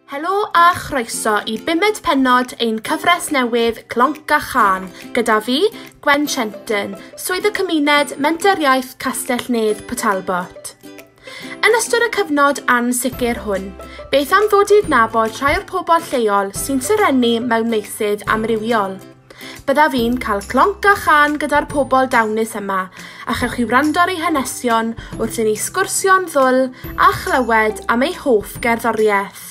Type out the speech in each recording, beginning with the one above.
Helo a chroeso i bumed pennod ein cyfres newydd Clonc a Chân, gyda fi, Gwen Shenton, Swydd y Cymuned, Menter Iaith Castell Nedd, Port Talbot. Yn ystod y cyfnod ansicr hwn, beth am ddod i adnabod rhai o'r pobl lleol sy'n serennu mewn meysydd amrywiol? Byddaf i'n cael clonc a chân gyda'r pobl dawnus yma, a chewch chi wrando ar eu hanesion wrth i ni sgwrsio'n ddwl a chlywed am eu hoff gerddoriaeth.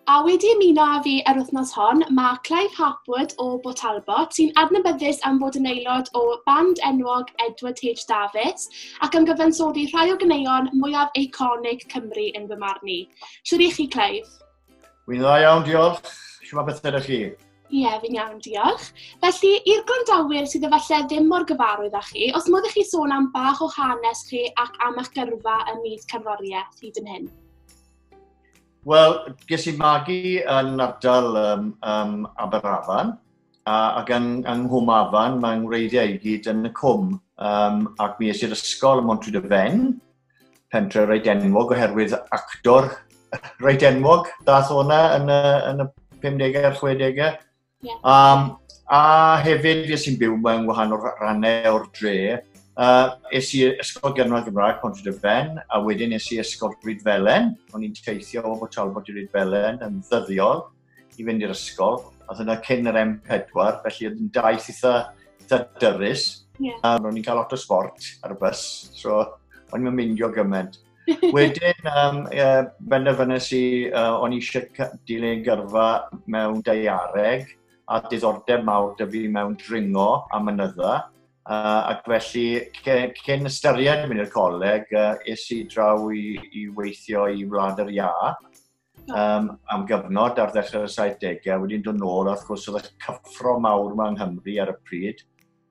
A wedi ymuno â fi yr wythnos hon, mae Clive Harpwood o Bo Talbot, sy'n adnabyddus am fod yn aelod o band enwog Edward H Davies ac am gyfansoddi rhai o ganeuon mwyaf eiconig Cymru yn fy marn i. Shwt i chi, Clive? Wy'n dda iawn, diolch. Siwma beth ydych chi? Ie, yeah, fi'n iawn, diolch. Felly, i'r gwrandawyr sydd efallai ddim mor gyfarwydd â chi, os modd i chi sôn am bach o hanes chi ac am eich gyrfa ym myd cerddoriaeth hyd yn hyn? Wel, ges i magu yn ardal um, um, Aberafan, a, ac yn, yng Nghwm Afan, mae ngwreiddiau i gyd yn y cwm, um, ac mi eisiau'r ysgol ym Montryd y Fen, pentre reit enwog oherwydd actor reit enwog, dath o'na yn y, yn y 50au a'r 60au. Yeah. Um, a hefyd fi sy'n byw mewn wahanol rannau o'r dre, Uh, es i ysgol gynradd Gymraeg Pont y Fen, a wedyn es i ysgol Rhyd Felen. O'n i'n teithio o Talbot i Rhyd Felen yn ddyddiol. i fynd i'r ysgol. Oedd hynna cyn yr M4, felly oedd yn daith eitha, eitha dyrus. Yeah. A ro'n i'n cael lot o sport ar y bus, so o'n i'n myndio gymaint. Wedyn, um, e, benderfynnes i, uh, o'n i eisiau dilyn gyrfa mewn deiareg a diddordeb mawr dy fi mewn dringo a mynydda. Uh, ac felly, cyn ystyried mynd i'r coleg, uh, es i draw i, i weithio i Wlad yr Ia, um, am gyfnod ar ddechrau'r 70au, wedi'n dod nôl, a wrth gwrs oedd y cyffro mawr yma yng Nghymru ar y pryd,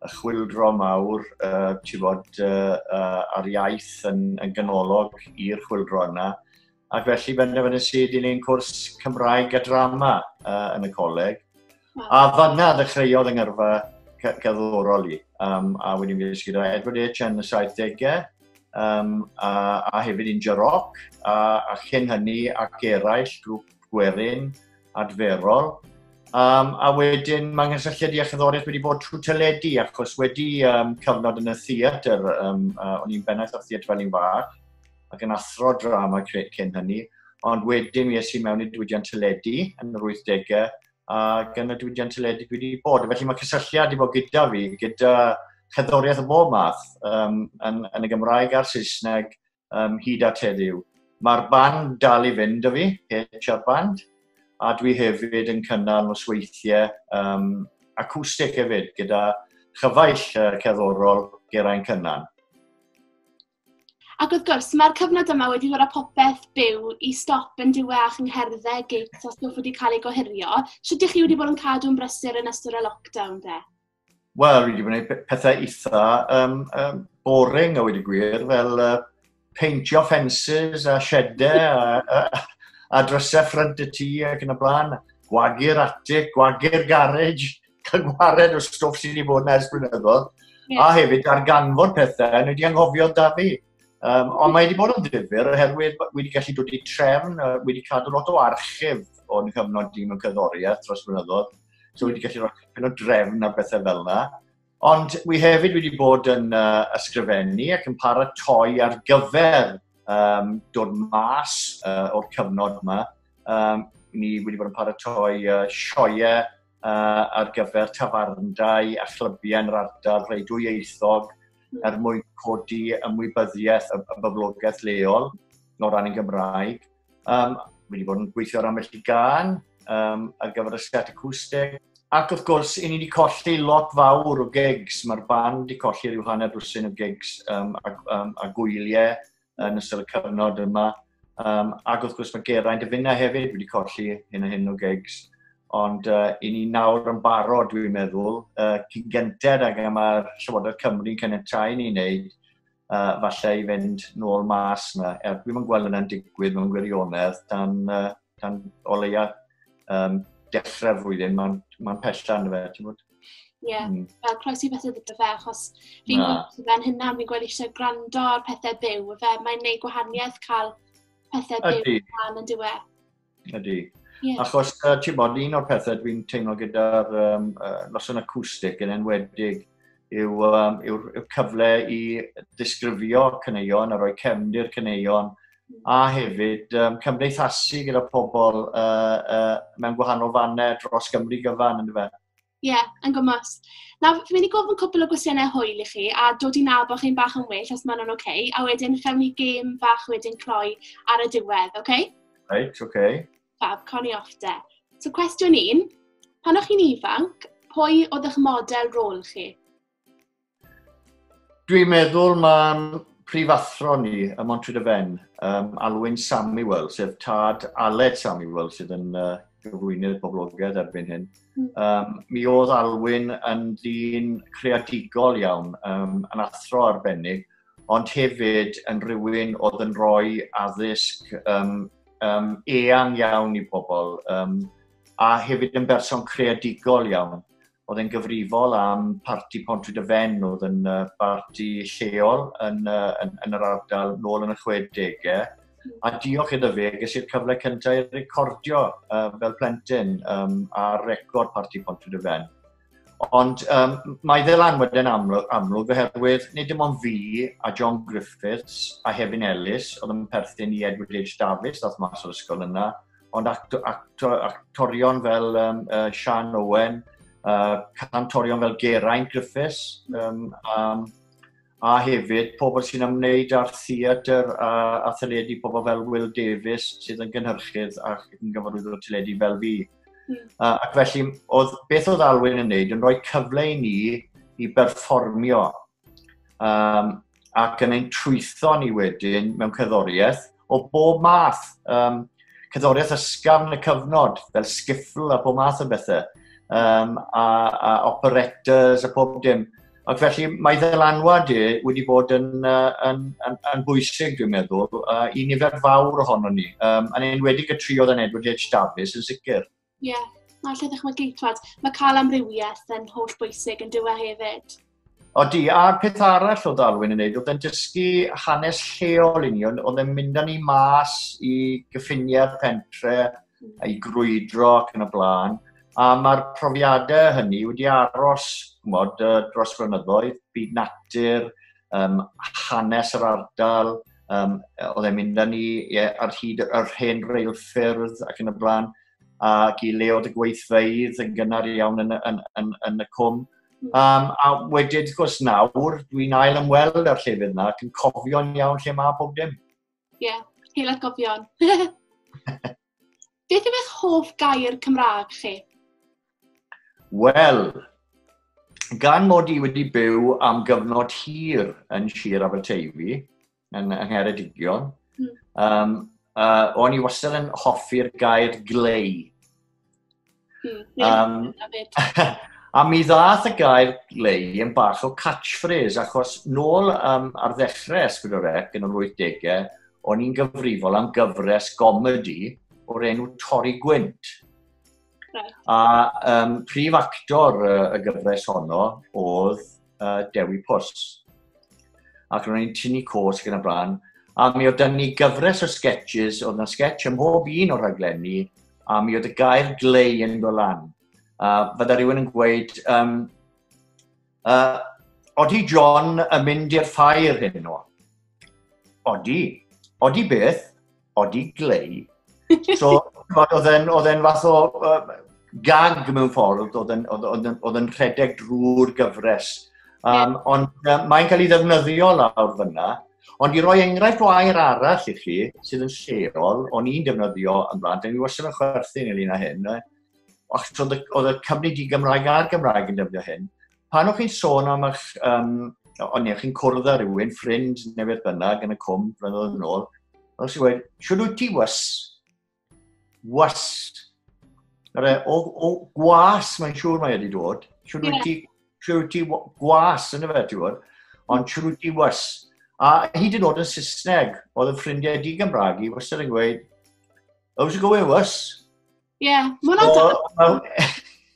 y chwildro mawr, uh, ti fod, uh, uh, ar iaith yn, yn ganolog i'r chwildro yna, ac felly fe nes i dilyn cwrs Cymraeg a Drama uh, yn y coleg, A fanna ddechreuodd yng ngyrfa cerddorol i, um, a wedyn fi ddysgu gyda Edward H yn y 70au, um, a, a hefyd Inja Rock, a, a chyn hynny ac eraill, grŵp gwerin, adferol. Um, a wedyn mae nghysylltiad i achyddoraeth wedi bod trwy teledu, achos wedi um, cyfnod yn y theatr, um, uh, o'n i'n bennaeth o'r theatr fel un fach, ac yn athro drama cyn hynny, ond wedyn mi es i mewn i diwydiant teledu yn yr 80au, a gan y diwydiant teledu dwi wedi bod. Felly mae cysylltiad wedi bod gyda fi, gyda chyddoriaeth o bob math um, yn, yn y Gymraeg a'r Saesneg um, hyd at heddiw. Mae'r band dal i fynd o fi, HR Band, a dwi hefyd yn cynnal nosweithiau um, acoustic hefyd gyda chyfaill uh, cerddorol Geraint Cynnan. Ac wrth gwrs, mae'r cyfnod yma wedi dod â popeth byw i stop yn diwe a'ch ngherddau, gigs a stwff wedi cael ei gohirio. Sut ydych chi wedi bod yn cadw'n brysur yn ystod y lockdown de? Wel, wedi gwneud pethau eitha um, um, boring a wedi gwir, fel uh, peintio ffensys a siedau a, a, a drysau ffrynt y tŷ ac yn y blaen, gwagu'r atig, gwagu'r garej, cyngwared o stwff sydd wedi bod yna ers blynyddoedd, yeah. a hefyd ar ganfod pethau, nhw wedi anghofio da fi. Um, ond mae wedi bod yn ddifur oherwydd wedi gallu dod i trefn, uh, wedi cadw lot o archif o'n cyfnod dyn mewn cyddoriaeth dros blynyddoedd. So wedi gallu rhoi yn o drefn a bethau fel yna. Ond wi hefyd wedi bod yn uh, ysgrifennu ac yn paratoi ar gyfer um, dod mas uh, o'r cyfnod yma. Um, ni wedi bod yn paratoi uh, sioiau uh, ar gyfer tafarndai a chlybiau yn yr ardal, rhai dwyieithog, hmm. er mwyn codi ymwybyddiaeth y, y boblogaeth leol o ran y Gymraeg. Um, wedi bod yn gweithio ar amell i gan um, ar gyfer y sgat acwsteg. Ac wrth gwrs, i ni wedi colli lot fawr o gigs. Mae'r band wedi colli rhyw hanner dwsin o gigs um, a, um, a gwyliau yn ystod y cyfnod yma. Um, ac wrth gwrs mae Geraint y Finna hefyd wedi colli hyn a hyn o gigs. Ond uh, i ni nawr yn barod, dwi'n meddwl, uh, cyn gynted ag am mae'r Llywodraeth Cymru'n cynnytau ni wneud, uh, falle i fynd nôl mas yna. Er, dwi'n yn gweld yna'n digwydd mewn gwirionedd dan uh, tan o leia um, dechrau'r flwyddyn, mae'n ma pella yn fe, ti'n bod? Ie, yeah. mm. fel croesi beth ydy fe, achos fi'n gweld fe'n hynna, fi'n gweld eisiau gwrando ar pethau byw, fe mae'n neud gwahaniaeth cael pethau byw yn rhan yn diwe. Ydy. Yeah. Achos, uh, ti'n bod, un o'r pethau dwi'n teimlo gyda'r um, uh, noson acoustic yn enwedig yw, um, yw, yw cyfle i ddisgrifio cyneuon a rhoi cefndir cyneuon a hefyd um, cymdeithasu gyda pobl uh, uh, mewn gwahanol fannau dros Gymru gyfan, ynddo fe? Ie, yeah, yn gymwys. Na, fi'n mynd i gofyn cwpl o gwestiynau hwyl i chi, a dod i nabod chi'n bach yn well, os maen nhw'n oce, okay, a wedyn chawn ni gêm fach wedyn cloi ar y diwedd, oce? Okay? Reit, oce. Okay. Fab, cawn ni off de. So cwestiwn un, pan o'ch chi'n ifanc, pwy oedd eich model rôl chi? Dwi'n meddwl mae'n prifathro ni ym Montryd y Fen, um, Alwyn Samuel, sef tad Aled Samuel, sydd yn uh, gyflwynydd boblogaidd erbyn hyn. Um, mi oedd Alwyn yn ddyn creadigol iawn, um, yn athro arbennig, ond hefyd yn rhywun oedd yn rhoi addysg um, um, eang iawn i bobl, um, a hefyd yn berson creadigol iawn. Oedd e'n gyfrifol am parti Pontwyd y Fen, oedd yn uh, barti lleol yn, uh, yn, yn yr ardal nôl yn y 60au. A diolch iddo fe, ges i'r cyfle cyntaf i recordio uh, fel plentyn um, ar record parti Pontwyd y Fen. Ond um, mae ddylanwad yn amlwg, amlwg oherwydd nid dim ond fi a John Griffiths a Hefin Ellis oedd yn perthyn i Edward H. Davies, ddoth mas o'r ysgol yna, ond acto, acto, actorion fel um, uh, Sian Owen, uh, cantorion fel Geraint Griffiths, um, um, a hefyd pobl sy'n ymwneud â'r theatr a, a theledu, pobl fel Will Davies sydd yn gynhyrchydd a yn gyfarwyddwr teledu fel fi. Mm. Uh, ac felly, oedd, beth oedd Alwyn yn wneud yn rhoi cyfle i ni i berfformio um, ac yn ein trwytho ni wedyn mewn cyddoriaeth o bob math, um, cadoriaeth ysgafn y cyfnod, fel skiffle a bob math o bethau, um, a, a operettas a pob dim. Ac felly mae ddylanwad e wedi bod yn, uh, yn, yn, yn bwysig, dwi'n meddwl, uh, i nifer fawr ohono ni. Um, yn enwedig y tri oedd yn Edward H. Davies yn sicr. Ie, yeah. na, lle ddychmygu, twad, mae cael amrywiaeth yn holl bwysig yn dywe hefyd. O di, a'r peth arall o Darwin yn neud, oedd yn dysgu hanes lleol i ni, oedd yn mynd â ni mas i gyffiniau'r pentre, hmm. i grwydro ac yn y blaen. A mae'r profiadau hynny wedi aros mod, dros flynyddoedd, byd natur, um, hanes yr ardal, Um, oedd e'n mynd â ni yeah, ar hyd yr hen reilffyrdd ac yn y blaen, ac i leod y gweithfeidd yn gynnar iawn yn, yn, yn, yn y cwm. Um, a wedyn, wrth gwrs, nawr, dwi'n ail ymweld â'r llefydd yna ac yn cofio'n iawn lle mae pob dim. Ie, yeah, heil atgofion. Beth yw eich hoff gair Cymraeg chi? Wel, gan mod i wedi byw am gyfnod hir yn Sir Aberteifi, yn Ngheredigion, mm. um, uh, o'n i wastad yn hoffi'r gair glei. Mm, um, a mi ddath y gair lei yn bach o catchphrase, achos nôl um, ar ddechrau Esgwydorec yn yr 80au, o'n i'n gyfrifol am gyfres gomedi o'r enw Torri Gwynt. Right. A um, prif actor y, y gyfres honno oedd uh, Dewi Pws. Ac ro'n i'n tynnu cos gyda blaen, a mi oedd dan ni gyfres o sketches, oedd yna sketch ym mhob un o'r rhaglenni, a mi oedd y gair glei yn dod lan. A fydda rhywun yn gweud, um, uh, odi John yn mynd i'r ffair hyn o? Odi. Odi beth? Odi Glei. So, oedd e'n oedd e'n fath o uh, gag mewn ffordd, oedd e'n oedd e'n oedd e'n rhedeg drwy'r gyfres. Um, yeah. Ond uh, mae'n cael ei ddefnyddio lawr fyna. Ond i roi enghraifft o air arall i chi, sydd yn lleol, o'n i'n defnyddio yn blaen, dyn ni wastad yn chwerthu yn ynglyn â hyn, achos oedd y, oedd y cyfnod i Gymraeg a'r Gymraeg yn defnyddio hyn, pan o'ch chi'n sôn am eich, um, ond ie, chi'n cwrdd â rhywun, ffrind neu beth bynnag yn y cwm, flynyddoedd yn ôl, os i wedi, siwr wyt ti was? Was. E, o, o gwas, mae'n siŵr mae wedi dod. Siwr wyt ti, siwr wyt ti gwas yn y fe, ti'n gwybod? Ond siwr wyt ti was. A hyd yn oed yn Saesneg, oedd y ffrindiau di Gymraeg i wastad yn gweud, how's it going was? Ie, yeah, mae hwnna'n so, dal.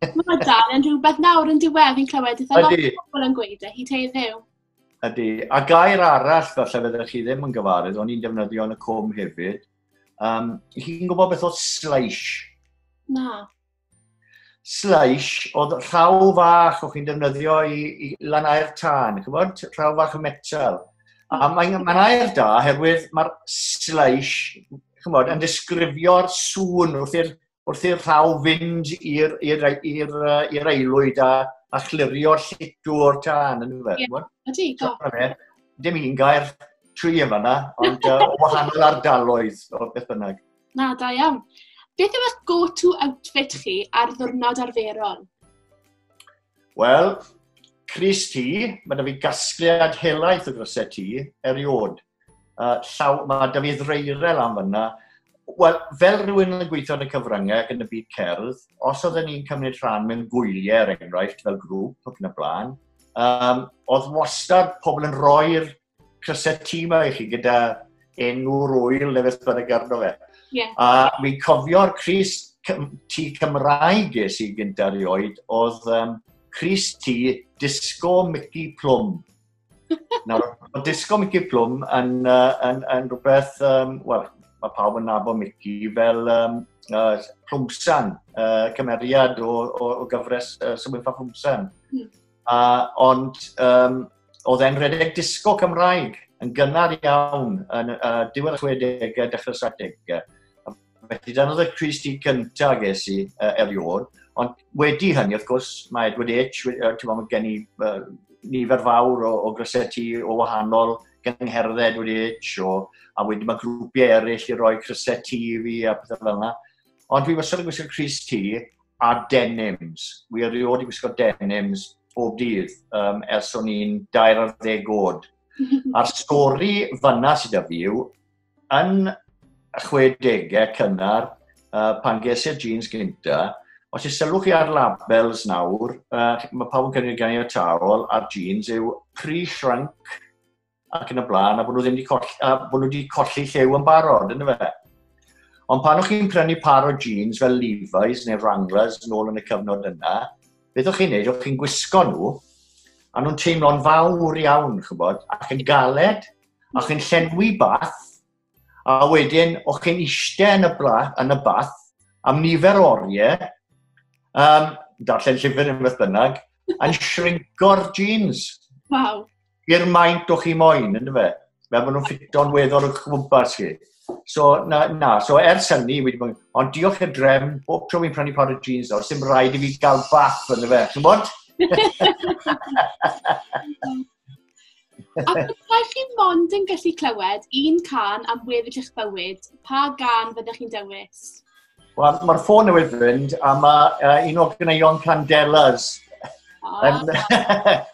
Mae hwnna'n dal yn rhywbeth nawr yn diwedd, fi'n clywed eitha lot o bobl yn gweud e, hi teir ddew. Ydy, a gair arall falle fydde chi ddim yn gyfarwydd, o'n i'n defnyddio yn y cwm hefyd. Um, chi'n gwybod beth oedd slice? Na. Slice oedd rhaw fach o'ch chi'n defnyddio i, i lanau'r tân, chi'n gwybod? Rhaw fach o metal. A mae'n mae air da, oherwydd mae'r slice chymod, yn disgrifio'r sŵn wrth i'r wrth i'r rhaw fynd i'r aelwyd a, a chlirio llitw o'r tân, yn fe? Yeah. Ydy, do. Dim un gair tri yn fanna, ond uh, o wahanol ardaloedd o beth bynnag. Na, da iawn. Beth yw'ch go-to outfit chi ar ddwrnod arferol? Wel, Cris ti, mae da fi gasgliad helaeth o grysau ti, eriod. Uh, llaw, mae da fi ddreirel am fyna. Wel, fel rhywun yn gweithio yn y cyfryngau ac yn y byd cerdd, os oedden ni'n cymryd rhan mewn gwyliau, er enghraifft, fel grŵp ac yn y blaen, um, oedd wastad pobl yn rhoi'r cysset ti yma i chi gyda enw'r wyl neu beth bynnag arno fe. Yeah. A mi'n cofio'r Cris ti Cymraeg ges i gyda rioed oedd um, Cris ti Disco Mickey Plum. Nawr, mae Disco Mickey Plum yn, uh, yn, yn rhywbeth, um, wel, mae pawb yn nabo Mickey fel um, uh, Plumsan, uh, cymeriad o, o, o gyfres uh, Symud Plumsan. Hmm. A, ond um, oedd e'n rhedeg disgo Cymraeg yn gynnar iawn yn uh, diwedd 60au, dechrau 70au. Felly dyna oedd y Cris Di gyntaf ges i uh, erioed. Ond wedi hynny, wrth gwrs, mae Edward H, uh, ti'n meddwl, gen i uh, nifer fawr o, o gryseti o wahanol gyngherddau Edward H, o, a wedi mae grwpiau eraill i roi cryseti i fi a pethau fel yna. Ond dwi wastad yn gwisgo Cris T, a denims. Wi erioed i wisgo denims bob dydd um, ers o'n i'n dair ar ddeg oed. A'r stori fanna sydd â fi yw, yn 60au cynnar, uh, pan ges i'r jeans gynta, os i sylwch chi ar labels nawr, uh, mae pawb yn cynnig gan i'r taol a'r jeans yw pre-shrunk ac yn y blaen, a bod nhw ddim wedi colli, a bod nhw wedi colli llew yn barod, yn fe. Ond pan o'ch chi'n prynu par o jeans fel Levi's neu Wranglers yn ôl yn y cyfnod yna, beth o'ch chi'n neud, o'ch chi'n gwisgo nhw, a nhw'n teimlo'n fawr iawn, chybod, ac yn galed, a chi'n llenwi bath, A wedyn, o'ch chi'n eistedd yn y, bla, yn y bath am nifer o oriau, um, darllen llyfr yn beth bynnag, yn shrinko'r jeans. Wow. I'r maint o'ch chi moyn, yn fe? Fe bod nhw'n ffito'n weddol o'ch gwmpas chi. So, na, na, so ers hynny, wedi bod, ond diolch i'r drefn, bob tro fi'n prynu par o jeans nawr, sy'n rhaid i fi gael bath yn y fe, ti'n bod? A byddai chi mond yn gallu clywed un can am weddill eich bywyd, pa gan fyddech chi'n dewis? Wel, mae'r ffôn newydd fynd, a mae uh, un o'r gyneuon Candelas, oh. yn,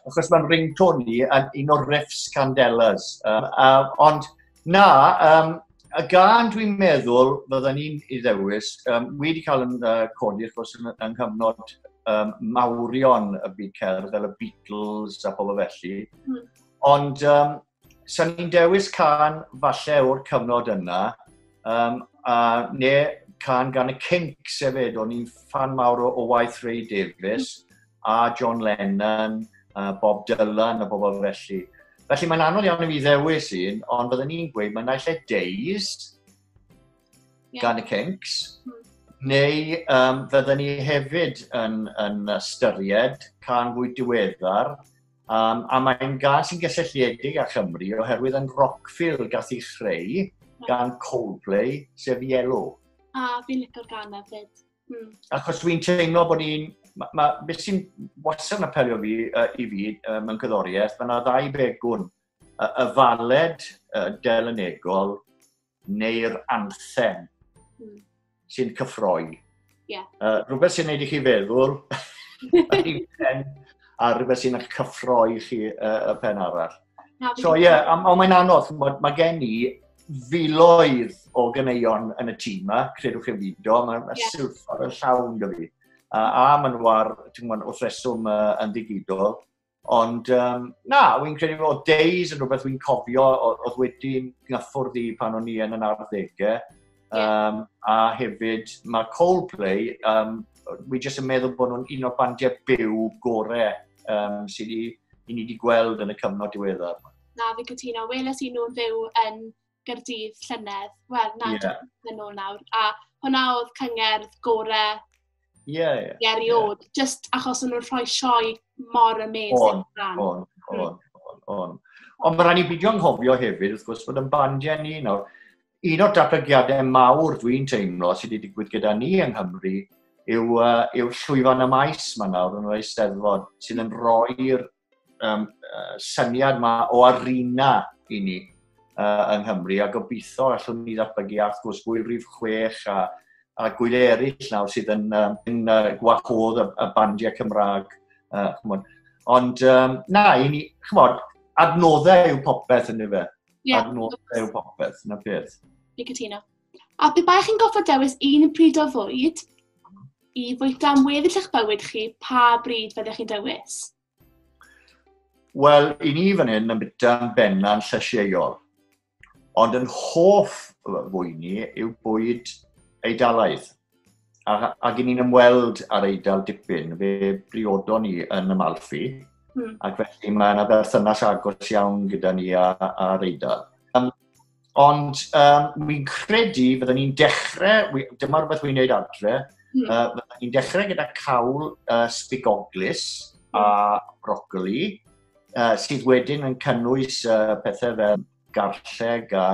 achos mae'n ringtone ni, yn un o'r riffs Candelas. Um, uh, ond Na, um, a gan dwi'n meddwl, fydden ni'n ei ddewis, um, wi wedi cael yn uh, codi, wrth gwrs, yn, yng nghyfnod um, mawrion y byd cerdd, fel y Beatles a pobl felly. Mm. Ond, um, sa'n ni'n dewis can falle o'r cyfnod yna, um, a ne can gan y Kinks hefyd, o'n i'n fan mawr o, o waith Ray Davies, mm. a John Lennon, a Bob Dylan a bobl felly. Felly mae'n anodd iawn i mi ddewis un, ond byddwn ni'n gweud mae'n naill e Days yeah. gan y Kinks, mm. neu um, fydden ni hefyd yn, yn ystyried can fwy diweddar, um, a mae'n gan sy'n gysylltiedig â Chymru oherwydd yn Rockfield gath i chreu gan Coldplay, sef Yellow. A fi'n licor gan hefyd. Mm. Achos fi'n teimlo bod ni'n... Mae ma, beth sy'n wastad yn apelio fi, uh, i fi uh, mewn cyddoriaeth, mae yna ddau begwn. Uh, y faled uh, delenegol neu'r anthem mm. sy'n cyffroi. Yeah. Uh, rhywbeth sy'n neud i chi feddwl, a rhywbeth sy'n eich cyffroi chi uh, y pen arall. So ie, yeah, ond mae'n anodd, mae, mae gen i filoedd o gyneuon yn y tîm yma, credwch chi fido, mae'n ma yeah. silffodd yn llawn dy fi. A, a maen nhw ar, ti'n gwybod, wrth reswm uh, yn ddigidol. Ond, um, na, wy'n credu o days yn rhywbeth wy'n cofio oedd wedi gyffwrdd i pan o'n i yn yn arddegau. Um, a hefyd mae Coldplay, um, wi jyst yn meddwl bod nhw'n un o'r bandiau byw gore um, sydd ni, i ni wedi gweld yn y cyfnod diweddar. Na, fi cytuno. Weles i nhw'n fyw yn Gyrdydd llynedd. Wel, na, yeah. yn ôl nawr. A hwnna oedd cyngerdd gore yeah, yeah, eriod. Yeah. Just achos o'n nhw'n rhoi sioe mor amazing. On, on, on, on, on. Ond mae rhaid i beidio anghofio hefyd, wrth gwrs, bod yn bandiau ni nawr, un o'r datblygiadau mawr dwi'n teimlo sydd wedi digwydd gyda ni yng Nghymru yw, uh, yw llwyfan y maes mae nawr yn yr eisteddfod sydd yn rhoi'r um, uh, syniad yma o arena i ni uh, yng Nghymru a gobeithio allwn ni ddatblygu a wrth gwrs gwyl rif 6 a, a gwyl eraill nawr sydd yn, um, yn uh, gwahodd y, y bandiau Cymraeg. Uh, Ond um, na, i ni, chymod, adnoddau yw popeth yn efe. Ie. Ar nôl byw popeth, na beth. Fi cytuno. A pe baech chi'n goffa dewis un pryd o fwyd i fwyta am weddill eich bywyd chi, pa bryd fyddech chi'n dewis? Wel, i ni fan hyn yn byta'n benna'n llysieuol. Ond yn hoff fwy ni yw bwyd eidalaidd. A, ac ni'n ymweld ar eidl dipyn, fe briodon ni yn y Malfi, mm. ac felly mae yna berthynas agos iawn gyda ni a, a eidl. Um, ond um, mi'n credu, byddwn ni'n dechrau, dyma rhywbeth wy'n gwneud adre, mm. uh, byddwn ni'n dechrau gyda cawl uh, spigoglis a hmm. brocoli, uh, sydd wedyn yn cynnwys uh, pethau fel garlleg a,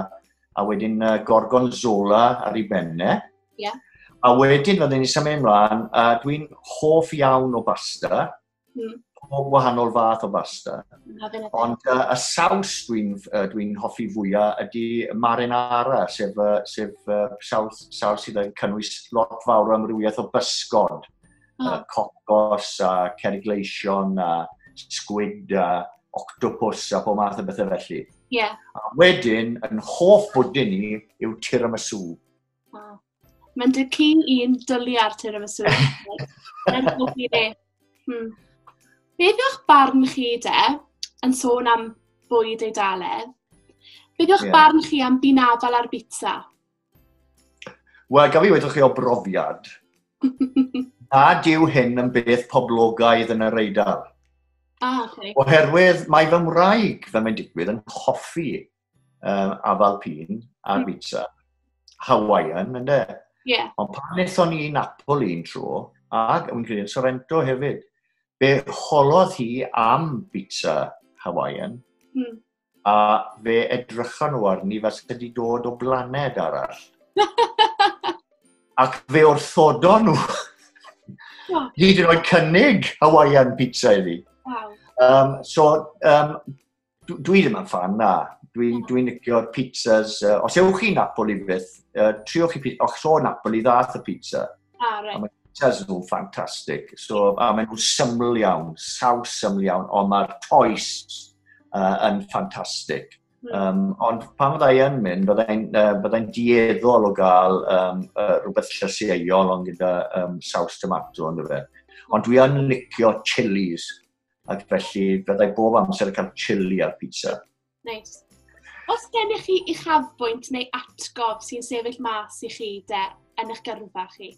a wedyn uh, gorgonzola ar ei benne. Yeah. A wedyn, fydden ni'n symud ymlaen, a dwi'n hoff iawn o basta, mm. pob wahanol fath o basta. Ond uh, y saws dwi'n uh, dwi hoffi fwyaf ydy marinara, sef, uh, sef uh, saws, saws sydd yn cynnwys lot fawr o amrywiaeth o bysgod. oh. uh, cocos a cerig gleision a squid a octopus a pob math o bethau felly. Yeah. A wedyn, yn hoff bwdyn ni yw tiramisu. Wow. Mae'n dy ci i'n dylu ar tiramisu. Mae'n hoff i ni. Hmm. Beth yw'ch barn chi de, yn sôn am bwyd Eidaledd, beth yw'ch yeah. barn chi am binafal ar bizza? Wel, gaf i wedi chi o brofiad, a dyw hyn yn beth poblogaidd yn yr eidl. Ah, okay. Oherwydd mae fy mwraig, fe mae'n digwydd, yn hoffi um, afal pîn a mm. pizza. Hawaiian, ynddo? Yeah. Ond pan wnaethon ni Napoli un tro, ac yn credu Sorrento hefyd, be holodd hi am pizza Hawaiian, mm. a fe edrychon nhw arni fel sydd wedi dod o blaned arall. Ac fe wrthodon nhw. Hyd yn oed cynnig Hawaiian pizza i fi. Wow. Um, so, um, dwi ddim yn fan na. Dwi'n dwi licio'r pizzas. Uh, os ewch chi Napoli beth, uh, triwch chi pizza. Och, so Napoli ddath y pizza. Ah, right. A mae pizzas nhw'n ffantastig. So, a maen nhw'n syml iawn, saws syml iawn, ond mae'r toes uh, yn ffantastig. Mm. Um, ond pan fydda i yn mynd, byddai'n uh, byddai dieddol o gael um, uh, rhywbeth llysieuol ond gyda um, saws tomato ond fe. Ond dwi yn licio chilies, ac felly byddai bob amser yn cael chili ar pizza. Nice. Os gennych chi uchafbwynt neu atgof sy'n sefyll mas i chi de, yn eich gyrfa chi?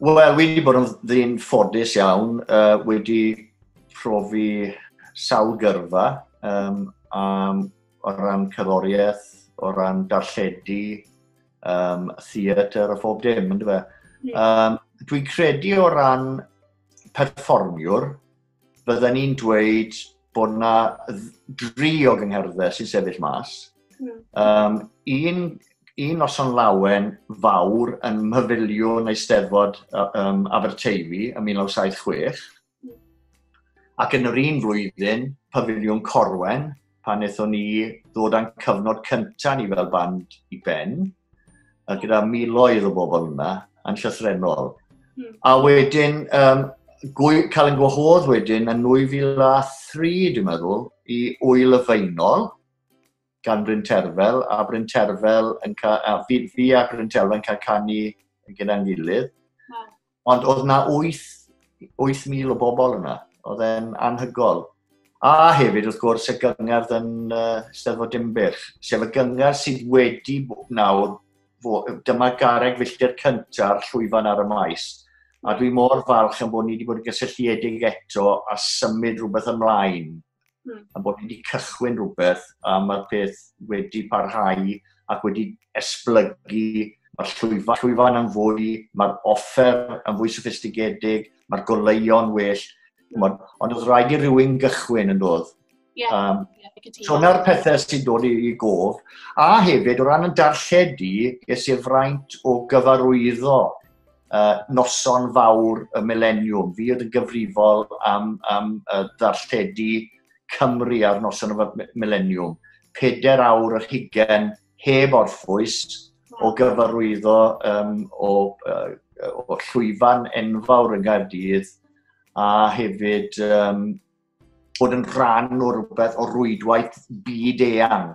Wel, wedi bod yn ddyn ffodus iawn, uh, wedi profi sawl gyrfa um, um, o ran cerddoriaeth, o ran darlledu, um, theatr a phob dim, ynddo fe. Um, dwi'n credu o ran perfformiwr, bydden ni'n dweud bod yna dri o gyngherddau sy'n sefyll mas. Um, un, un noson lawen fawr yn myfiliwn eisteddfod um, Aberteifi yn 1976, ac yn yr un flwyddyn, pafiliwn Corwen, pan wnaethon ni ddod â'n cyfnod cyntaf ni fel band i ben, a gyda miloedd o bobl yna, yn llythrenol. Hmm. A wedyn, um, gwy, cael yn gwahodd wedyn yn 2003, dwi'n meddwl, i Wyl y Feinol, gan Bryn Terfel, a Bryn Terfel yn cael, a fi, fi a Bryn Terfel yn cael canu gyda'n gilydd. Ond oedd na 8,000 o bobl yna. Oedd e'n anhygol. A hefyd, wrth gwrs, y gyngerdd yn uh, Steddfod Dimbych, sef y gyngerdd sydd wedi nawr, dyma gareg filltir cynta'r llwyfan ar y maes. A dwi mor falch am bod ni wedi bod yn gysylltiedig eto a symud rhywbeth ymlaen. mm. a bod ni wedi cychwyn rhywbeth a mae'r peth wedi parhau ac wedi esblygu Mae'r llwyfan, llwyfan yn fwy, mae'r offer yn fwy sophistigedig, mae'r goleuon well. Ond oedd rhaid i rywun gychwyn yn dod. Yeah, um, yeah, so yna'r pethau sy'n dod i gof. A hefyd, o ran yn darlledu, ges i'r fraint o gyfarwyddo uh, noson fawr y mileniwm. Fi oedd yn gyfrifol am, am uh, ddarlledu Cymru ar noson y mileniwm. Peder awr yr hugen heb orffwys o gyfarwyddo um, o, uh, o llwyfan enfawr yn Gaerdydd a hefyd um, bod yn rhan o rhywbeth o rwydwaith byd eang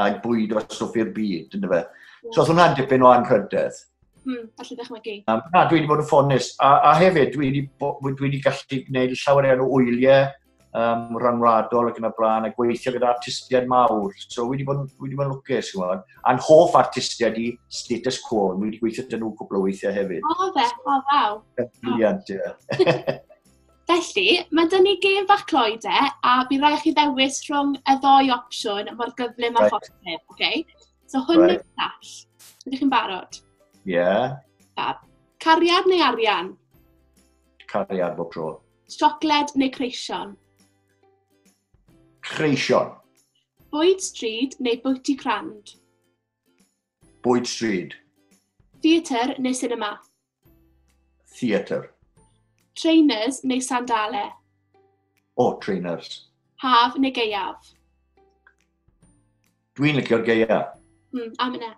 a bwyd o stwff i'r byd, ynddo fe. So, oedd hwnna'n dipyn o anrhydedd. Hmm, allu dychmygu. Um, na, dwi wedi bod yn ffonus. A, a hefyd, dwi wedi, dwi wedi gallu gwneud llawer iawn o wyliau um, rhanwladol ac yn y blaen, a gweithio gyda artistiaid mawr. So, wedi bod, wedi bod yn lwcus, ti'n gwybod. A'n hoff artistiaid i status quo, dwi wedi gweithio dyn nhw cwbl o weithiau hefyd. O, fe, o, ddaw. Briliant, ie. Felly, mae dyn ni gêm bach cloi de, a bydd rhaid chi ddewis rhwng y ddoi opsiwn mor gyflym a right. phosib, oce? Okay? So hwn right. neu'r llall. Ydych chi'n barod? Ie. Yeah. Fab. Cariad neu arian? Cariad bob tro. Siocled neu creision? Creision. Bwyd stryd neu bwyty crand? Bwyd stryd. Theatr neu sinema? Theatr. Trainers neu sandale? O, oh, trainers. Haf neu geiaf? Dwi'n licio'r geiaf. Mm, am yna.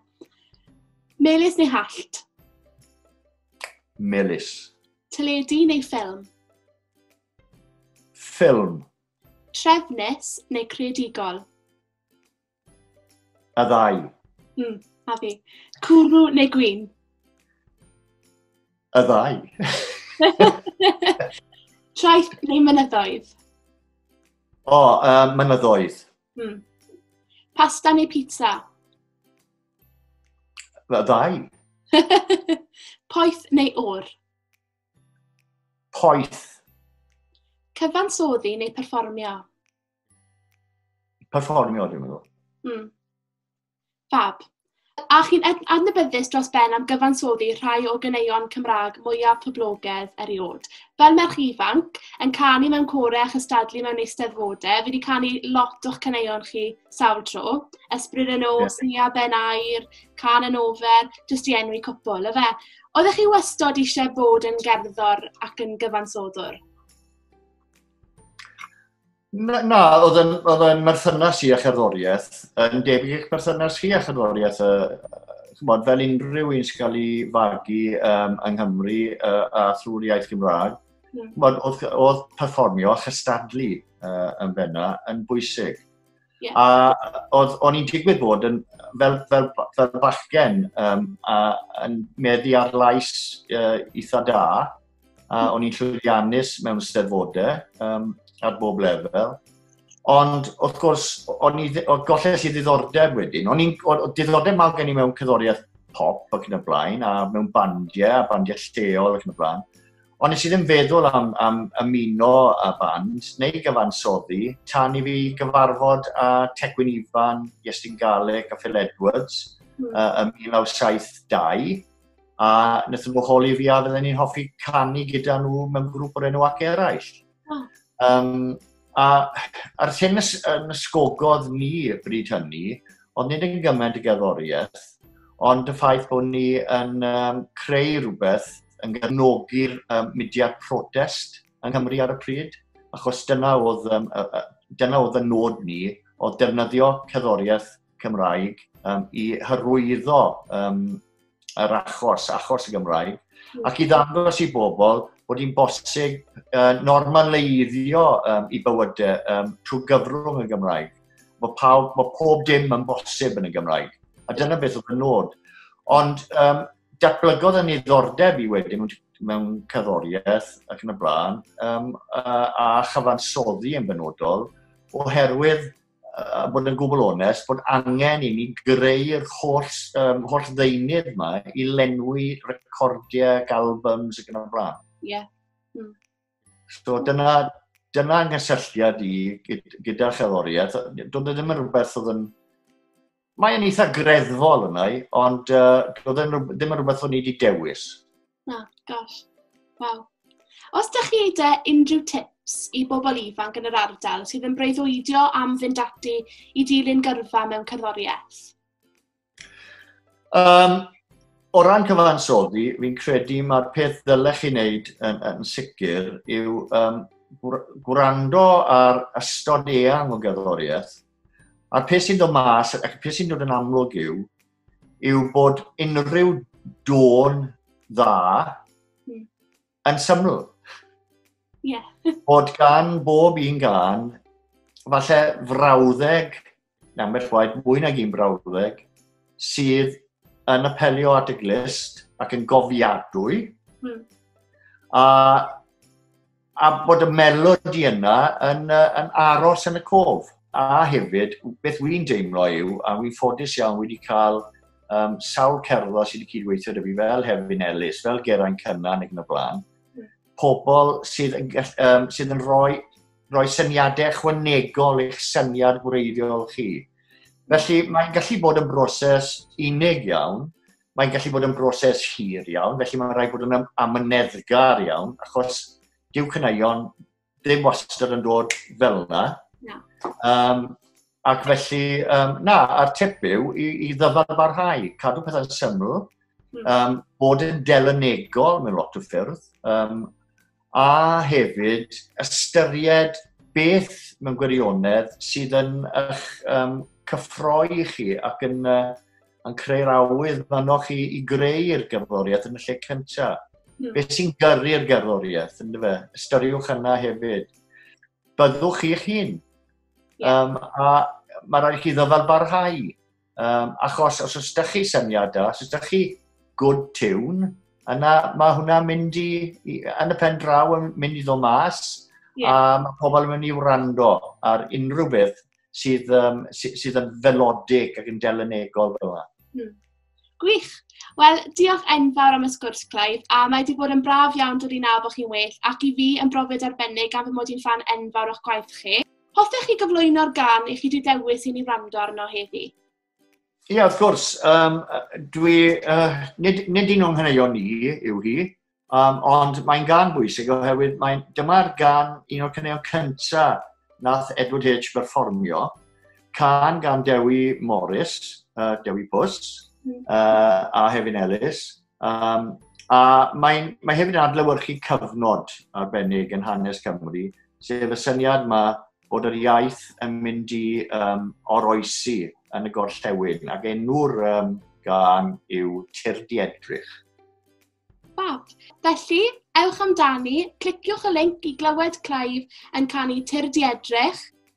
Melus neu hallt? Melus. Teledu neu ffilm? Ffilm. Trefnus neu creadigol? Y ddau. Mm, a fi. Cwrw neu gwyn? Y ddau. Traeth neu mynyddoedd? O, oh, uh, mynyddoedd. Hmm. Pasta neu pizza? Y ddau. Poeth neu o'r? Poeth. Cyfansoddi neu perfformio? perfformio, dwi'n meddwl. Mm. Fab. A chi'n adnabyddus dros ben am gyfansoddi rhai o gyneuon Cymraeg mwyaf poblogedd erioed. Fel merch ifanc, yn canu mewn corau a chystadlu mewn eisteddfodau, fi wedi canu lot o'ch cyneuon chi sawl tro. Ysbryd yn os, yeah. Nia Ben Air, Can yn Ofer, jyst i enwi cwpl, efe. Oeddech chi wastod eisiau bod yn gerddor ac yn gyfansoddwr? Na, na oedd yn, oedd yn merthynas i a cherddoriaeth yn debyg i'ch merthynas chi a cherddoriaeth. Uh, chymod, fel unrhyw un sy'n cael ei fagu um, yng Nghymru uh, a thrwy'r iaith Gymraeg, mm. oedd, oedd perfformio a chystadlu uh, yn benna yn bwysig. Yeah. A oedd, o'n i'n digwydd bod yn, fel, fel, fel bachgen, um, a, yn meddu ar lais uh, eitha da, a o'n i'n llwyddiannus mewn steddfodau um, ar bob lefel. Ond, wrth gwrs, o'n i, o gollell i ddiddordeb wedyn. O'n i'n, diddordeb mawr gen i mewn cyddoriaeth pop ac yn y blaen, a mewn bandiau, a bandiau lleol ac yn y blaen. Ond nes i ddim feddwl am, am ymuno a band neu gyfansoddi tan i fi gyfarfod â Tecwyn Ifan, Iestyn Garlic a Phil Edwards mm. uh, ym 1972 a wnaethon nhw holi fi a fydden ni'n hoffi canu gyda nhw mewn grŵp o'r enw ac eraill. Oh. Um, a, a'r thing ys, yn ysgogodd ni y bryd hynny, ond nid yn gymaint y gerddoriaeth, ond y ffaith bod ni yn um, creu rhywbeth yn gefnogi'r um, mudiad protest yng Nghymru ar y pryd, achos dyna oedd, um, dyna oedd y nod ni, oedd defnyddio cerddoriaeth Cymraeg um, i hyrwyddo um, yr achos, achos y Gymraeg, hmm. ac i ddangos i bobl bod hi'n bosib uh, normaleiddio um, i bywydau um, trwy gyfrwng y Gymraeg. Mae, pawb, mae pob dim yn bosib yn y Gymraeg. A dyna beth oedd y nod. Ond um, datblygodd yn ddiddordeb i wedyn mewn cerddoriaeth ac yn y blaen, um, a, a chyfansoddi yn benodol, oherwydd a bod yn gwbl onest, bod angen i ni greu'r holl, um, holl ddeunydd yma i lenwi recordiau, albums ac yn y blaen. Ie. Yeah. Mm. So dyna, dyna nghysylltiad i gyda cherddoriaeth. Doedd e ddim yn rhywbeth oedd yn Mae yn eitha greddfol yna i, ond uh, oedd yn, ddim yn rhywbeth o'n i wedi dewis. Na, gosh. Wow. Os da chi eide unrhyw tips i bobl ifanc yn yr ardal sydd yn breuddwydio am fynd ati i dilyn gyrfa mewn cerddoriaeth? Um, o ran cyfansoddi, fi'n credu mae'r peth ddylech chi wneud yn, yn sicr yw um, gwrando ar ystod eang o gerddoriaeth A pe sy'n dod mas, ac pe sy'n dod yn amlwg yw, yw bod unrhyw dôn dda hmm. yn syml. Yeah. bod gan bob un gan, falle frawddeg, na ambell waith mwy nag un brawddeg, sydd yn apelio at y glist ac yn gofiadwy. Hmm. A a bod y melodi yna yn, uh, yn aros yn y cof. A hefyd, beth wy'n deimlo yw, a wy'n ffodus iawn wedi cael um, sawl cerddo sydd wedi cydweithio dy fi fel Hefin Ellis, fel Geraint Cynnan ac yn y blaen, hmm. pobl sydd yn, um, sydd yn rhoi, rhoi syniadau chwanegol eich syniad gwreiddiol chi. Felly mae'n gallu bod yn broses unig iawn, mae'n gallu bod yn broses hir iawn, felly mae'n rhaid bod yn amyneddgar iawn, achos dyw cyneuon ddim wastad yn dod fel yna. No. Um, ac felly, um, na, a'r tip yw i, i ddyfarbarhau, cadw pethau'n syml, um, bod yn delynegol mewn lot o ffyrdd, um, a hefyd ystyried beth mewn gwirionedd sydd yn eich um, cyffroi chi ac yn, uh, yn creu'r awydd fanno chi i greu'r gerddoriaeth yn y lle cyntaf. Mm. Beth sy'n gyrru'r gerddoriaeth, yn fe? Ystyriwch yna hefyd. Byddwch chi'ch hun. Yeah. Um, a mae rhaid chi ddyfalbarhau. Um, achos os oes da chi syniadau, os oes da chi good tune, yna mae hwnna mynd i, i yn y pen draw yn mynd i ddod mas, yeah. a mae pobl yn mynd i wrando ar unrhyw beth sydd, um, sydd, sydd yn felodig ac yn delenegol fel yna. Hmm. Gwych. Wel, diolch enfawr am y sgwrs, Clive, a mae wedi bod yn braf iawn dod i nawr bod chi'n well, ac i fi yn brofiad arbennig gan fy mod i'n fan enfawr o'ch gwaith chi. Hoffech chi gyflwyno'r gan i chi wedi dewis i ni wrando arno heddi? Ie, yeah, wrth gwrs. Um, dwi, uh, nid, nid un o'n hynny'n ni yw hi, um, ond mae'n gan bwysig oherwydd mae, dyma'r gan un o'r cynnion cyntaf nath Edward H. berfformio, can gan Dewi Morris, uh, Dewi Pws, uh, a Hefin Ellis, Um, a mae, mae hefyd yn adlewyrchu cyfnod arbennig yn hanes Cymru, sef y syniad yma bod yr iaith yn mynd i um, oroesi yn y gorllewin, ac enw'r um, gan yw Tirdi Edrych. Fab. Felly, ewch amdani, cliciwch y link i glywed Clive yn canu Tirdi Edrych,